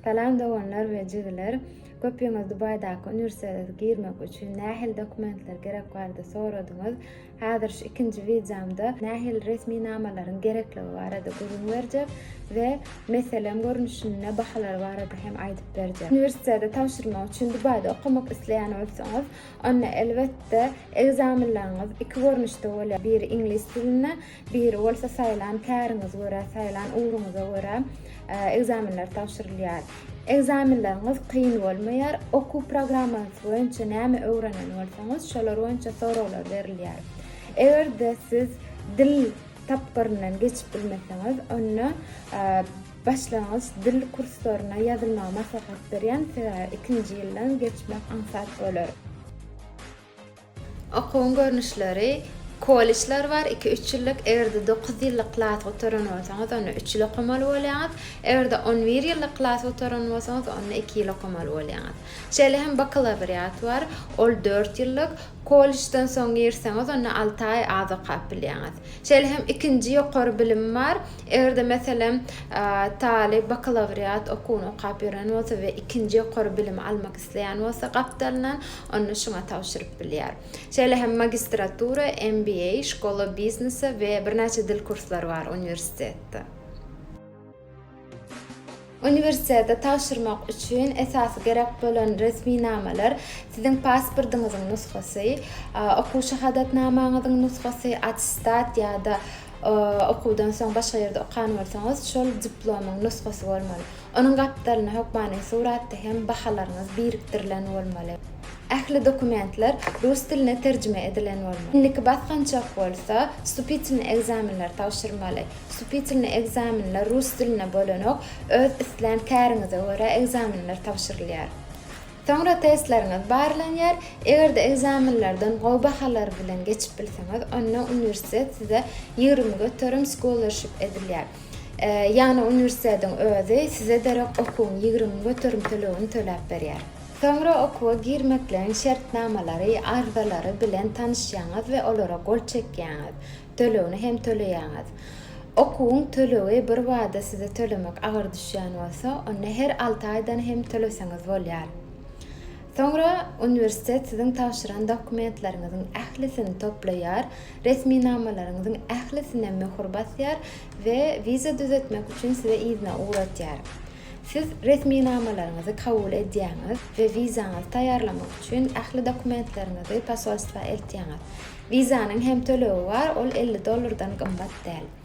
Salam doganlar we jigiler. Köpüňiz Dubaýdaky uniwersitete girmek üçin nähili dokumentler gerek barada soradyňyz. Häzir şu ikinji wideomda nähili resminamalaryň gerekligi barada gürrüň berjek we meselem görnüşinde bahalar barada hem aýdyp berjek. Uniwersitete tabşyrmak üçin Dubaýda okamak isleýän bolsaňyz, onda elbetde ekzamenleriňiz iki görnüşde bolýar. Biri iňlis dilinde, Biri bolsa saýlan käriňize görä, saýlan ugruňyza görä ekzamenler tabşyrylýar. Ekzamenleriňiz kyn bolmaýar, okuw programmasy boýunça näme öwrenen bolsaňyz, şolar boýunça soraglar berilýär. Eger-de siz dil tapgyryndan geçip bilmeseňiz, onda başlangyç dil kurslaryna ýazylmagy maslahat berýän, sebäbi ikinji ýyldan geçmek aňsat bolar. Okuwyň görnüşleri, Kollejler bar, iki-üç ýyllyk, eger-de dokuz ýyllyk klas gutaran bolsaňyz, onda üç ýyl okamaly bolýaňyz, eger-de on bir ýyllyk klas gutaran bolsaňyz, onda iki ýyl okamaly bolýaňyz. Şeýle hem bakalawriat bar, ol dört ýyllyk, kollejden soň girseňiz, onda alty aý az okap bilýäňiz. Şeýle hem ikinji ýokary bilim bar, eger-de, meselem, talyp bakalawriat okuwyny okap ýören bolsa we ikinji ýokary bilimi almak isleýän bolsa gapdalyndan, ony şuňa tabşyryp bilýär. Şeýle hem magistratura, MBA, Şkola biznesa we birnäçe dil kurslary bar uniwersitetde. Uniwersitete tabşyrmak üçin esasy gerek bolan resminamalar, siziň pasportyňyzyň nusgasy, okuw şahadatnamaňyzyň nusgasy, attestat ýa-da okuwdan soň başga ýerde okan bolsaňyz, şol diplomyň nusgasy bolmaly. Onuň gapdalynda hökmany suratda hem bahalaryňyz birikdirilen bolmaly. Ähli dokumentler rus diline terjime edilen bolmaly. Indiki basgançak bolsa wstupitelnyý ekzamenleri tabşyrmaly. Wstupitelnyý ekzamenler rus dilinde bolanok, öz islän käriňize görä ekzamenler tabşyrylýar. Soňra testleriňiz barlanýar, eger-de ekzamenlerden gowy bahalar bilen geçip bilseňiz, onda uniwersitet size ýigrimi göterim scholarship edilýär. Ýagny uniwersitetiň özi size derek okuwyň ýigrimi göterimtiligini töläp berýär. Soňra okuwa girmekligiň şertnamalary, arzalary bilen tanyşýaňyz we olara gol çekýäňiz, tölegini hem töleýäňiz. Okuwyň tölegi bir bada size tölemek agyr düşýän bolsa, onda her alty aýdan hem töleseňiz bolýar. Soňra uniwersitet siziň tabşyran dokumentleriňiziň ählisini toplaýar Resminamalaryňyzyň ählisine möhür basýar we wiza düzetmek üçin sizi yzyna ugratýar. Siz resminamalaryňyzy kabul edýäňiz we wizaňyzy taýýarlamak üçin ähli dokumentleriňizi posolstwa eltýäňiz. Wizanyň hem tölegi bar, ol elli dollardan gymmat däl.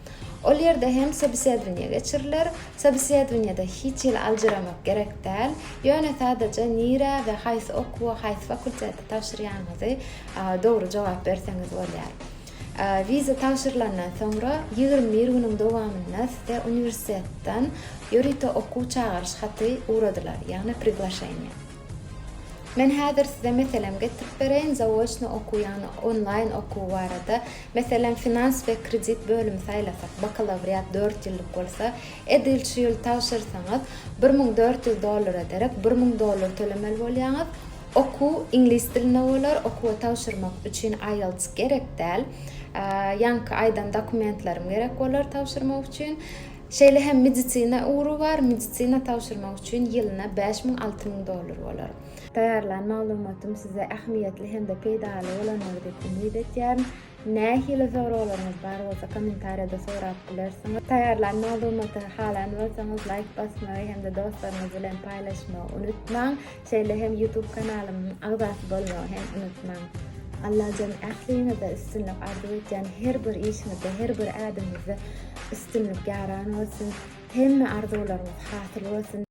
Ol ýerde hem sobesedowaniýe geçiriler. Sobesedowaniýede hiç hili aljyramak gerek däl, ýöne sadaja nirä we haýsy okuwa, haýsy fakultete tabşyrýanyňyzy dogry jogap berseňiz bolýar. Wiza tabşyrylandan soňra ýigrimi bir günüň dowamynda size uniwersitetden ýörite okuw çagyryş haty ugradylar, ýagny priglaşeniýe. Men häzir size meselem getirip bereýin, zaoçno okuw ýagny onlaýn okuw barada. Meselem, finans we kredit bölümi saýlasak, bakalawriat dört ýyllyk bolsa, edil şu ýyl tabşyrsaňyz, bir müň dört ýüz dollara derek bir müň dollar tölemeli bolýaňyz. Okuw iňlis dilinde bolar, okuwa tabşyrmak üçin IELTS gerek däl. Ýaňky aýdan dokumentlerim gerek bolar tabşyrmak üçin. Şeýle hem medisina ugry bar, medisina tabşyrmak üçin ýylyna bäş müň, alty müň dollar bolar. Taýýarlan maglumatym size ähmiýetli hem-de peýdaly bolandyr diýip umyt etýärin. Nähili soraglaryňyz bar bolsa kommentariýada sorap bilersiňiz. Taýýarlan maglumaty halaýan bolsaňyz laýk basmagy hem-de dostlaryňyz bilen paýlaşmagy unutmaň. Şeýle hem YouTube kanalymyň agzasy bolmagy hem unutmaň. Allajan ähliňize üstünlik arzuw etýän her bir işiňizde her bir ädimizde üstünlik ýaran bolsun. Hemme arzuwlaryňyz hasyl bolsun.